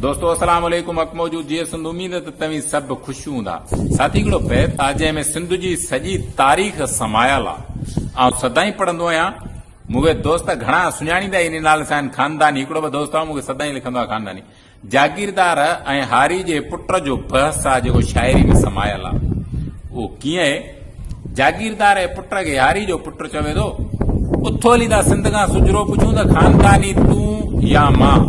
دوستو السلام عليڪم حق موجود جيئي سنڌ اميد ته توهين سڀ خوش هوندا ساٿي هڪڙو بيت آ جنهن ۾ سنڌ جي سڄي تاريخ سمايل آ آئون سدائين پڙهندو آهيان مونکي دوست گهڻا سڃاڻيندا ان نالي سان خانداني هڪڙو به دوست آ مونکي سدائين لکندو آ خانداني جاگيردار ۽ هاري جي پٽ جو بحث آ جيڪو شاعري ۾ سمايل آ اهو ڪيئن جاگيردار ۽ پٽ کي هاري جو پٽ چوي ٿو، اٿو علي دا سنڌ کان سجرو پڇون ته خانداني تون يا مان؟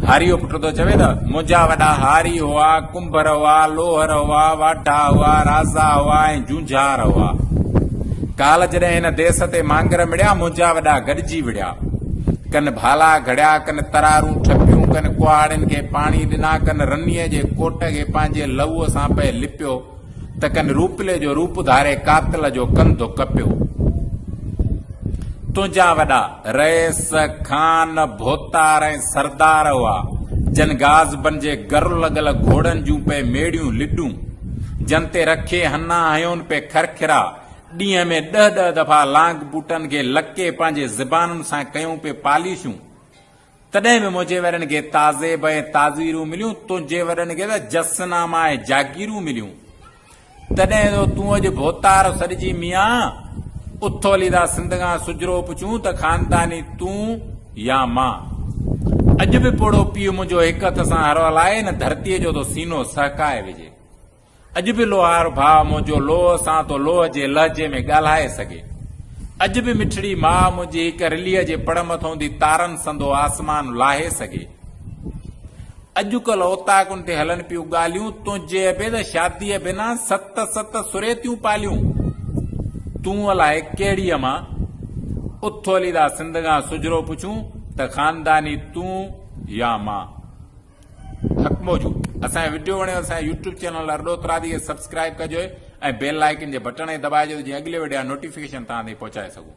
هاري جو پٽ ٿو چوي ته منهنجا وڏا هاري هئا، ڪنڀر هئا، لوهر هئا، واڍا هئا، رازا هئا ۽ جونجهار هئا. ڪالهه جڏهن هن ديس تي مانگر مڙيا، منهنجا وڏا گڏجي وڙهيا. ڪن ڀالا گهڙيا، ڪن ترارون ٺپيون، ڪن ڪهاڙين کي پاڻي ڏنا، ڪن رنيء جي ڪوٽ کي پنهنجي لهوء سان پئي لپيو. ته ڪن روپلي جو روپ ڌاري قاتل جو ڪنڌ ڪپيو. تنهنجا وڏا رئيس، خان، ڀوتار ۽ سردار هئا، جن غاز بنجي گر لڳل گهوڙن جون پئي ميڙيون لڏون، جن تي رکي هنا هيون پئي کرکرا، ڏينهن ۾ ڏهه ڏهه دفعا لانگ بوٽن کي لڪي پنهنجي زبانن سان ڪيون پئي پاليشون. تڏهن به منهنجي ويرن کي تعذيب ۽ تعذيرون مليون، تنهنجي ويرن کي ته جس ناما ۽ جاگيرون مليون. تڏهن جو تون اڄ ڀوتار سڏجين ميان، اٿ علي دا سنڌ کان سجھرو پڇون ته خانداني تون يا مان. اڄ به پوڙهو پيء منهنجو هڪ هٿ سان هر هلائي، هن ڌرتيء جو ٿو سينو سهڪائي وجهي. اڄ به لوهار ڀاء منهنجو لوهه سان ٿو لوهه جي لهجي ۾ ڳالهائي سگهي. اڄ به مٺڙي ماء منهنجي هڪ رليء جي پڙ مٿئون دي تارن سندو آسمان لاهي سگهي. اڄ ڪلهه اوطاقن تي هلن پيون ڳالهيون تنهنجي به ته شاديء بنا ست ست سريتيون پاليون. تون الائي ڪهڙيء مان اٿو علي دا سندگان سجرو پڇون ته خانداني تون يا مان. حق موجود اسان جو وڊيو وڻيو اسان جي يوٽيوب چينل ارڏو ترادي کي سبسڪرائب ڪجو ۽ بيل آئيڪن جي بٽڻ کي دٻائجو ته جيئن اڳلي وڊيو جا نوٽيفڪيشن توهان تائين پهچائي سگهون